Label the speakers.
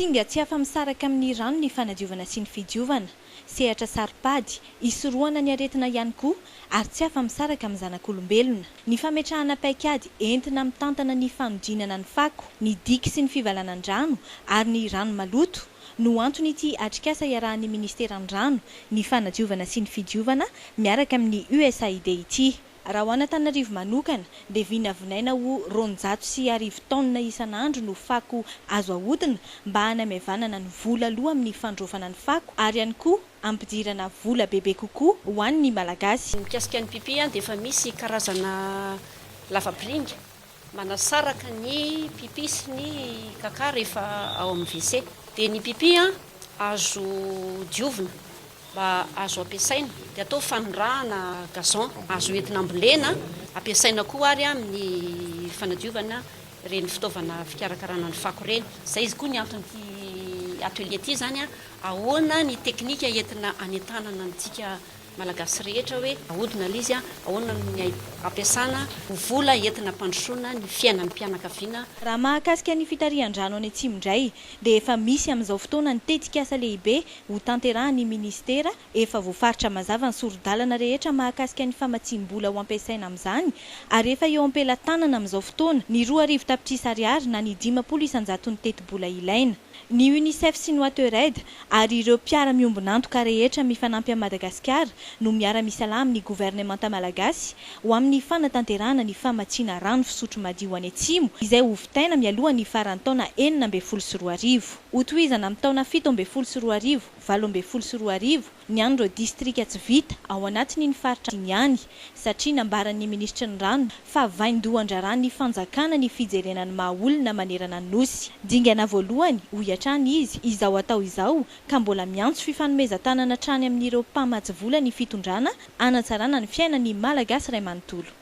Speaker 1: Singa tsy afa-misaraka amin'ny rano ny fanadiovana sy ny fidiovana, sehatra saro-pady, hisorohana ny aretina ihany koa, ary tsy afa-misaraka amin'ny zanak'olombelona. Ny fametrahana paikady entina mitantana ny fanodinana ny fako, ny diky sy ny fivalanan-drano ary ny rano maloto no anton'ity atrikasa iarahan'ny Ministeran'ny Rano, ny Fanadiovana sy ny Fidiovana miaraka amin'ny USAID ity. Raha ho an'Antananarivo manokana dia vinavinaina ho roanjato sy arivo taonina isan'andro no fako azo ahodina mba hanamaivanana ny vola aloa amin'ny fandraofana ny fako ary ihany koa hampidirana vola bebe kokoa ho an'ny Malagasy. Mikasika ny pipy
Speaker 2: dia efa misy karazana lavapiringa. Manasaraka ny pipi sy ny kaka rehefa ao amin'ny WC. Dia ny pipi azo diovina mba azo ampiasaina dia atao fanondrahana gazon. Azo entina ambolena, ampiasaina koa ary amin'ny fanadiovana ireny fitaovana fikarakarana ny fako ireny. Izay izy koa ny anton'ity atelier ity izany ahoana ny teknika entina hanentanana antsika Malagasy rehetra hoe ahodina lzy a! Ahoana no ny ampiasana ho vola entina ampandrosoana ny fiainan'ny mpianakaviana? Raha mahakasika
Speaker 1: ny fitarihan-drano any Atsimo indray dia efa misy amin'izao fotoana ny tetikasa lehibe ho tanterahan'ny Minisitera, efa voafaritra mazava ny sori-dalana rehetra mahakasika ny famatsiam-bola ho ampiasaina amin'izany ary efa eo am-pelatanana amin'izao fotoana ny roa arivo tapitrisa Ariary na ny dimampolo isan-jaton'ny tetibola ilaina. ny Unicef sy ny Watered ary ireo mpiara-miombon'antoka rehetra mifanampy amin'i Madagasikara no miara-misalahy amin'ny governemanta malagasy ho amin'ny fanatanterahana ny famatsiana rano fisotro madio any Atsimo izay ho vitaina mialoha ny faran'ny taona enina ambin'ny folo sy roa arivo. Hotohizana amin'ny taona fito ambin'ny folo sy roa arivo, valo ambin'ny folo sy roa arivo, ny an'ireo distrika tsy vita ao anatin'iny faritra iny ihany, satria nambaran'ny minisitry ny rano fa vaindohan-draharahan'ny fanjakana ny fijerena ny maha olona manerana ny Nosy. Dingana voalohany, hoy hatrany izy, izao atao izao, ka mbola miantso fifanomezan-tanana hatrany amin'ireo mpamatsy vola ny fitondrana hanatsarana ny fiainan'ny Malagasy iray manontolo.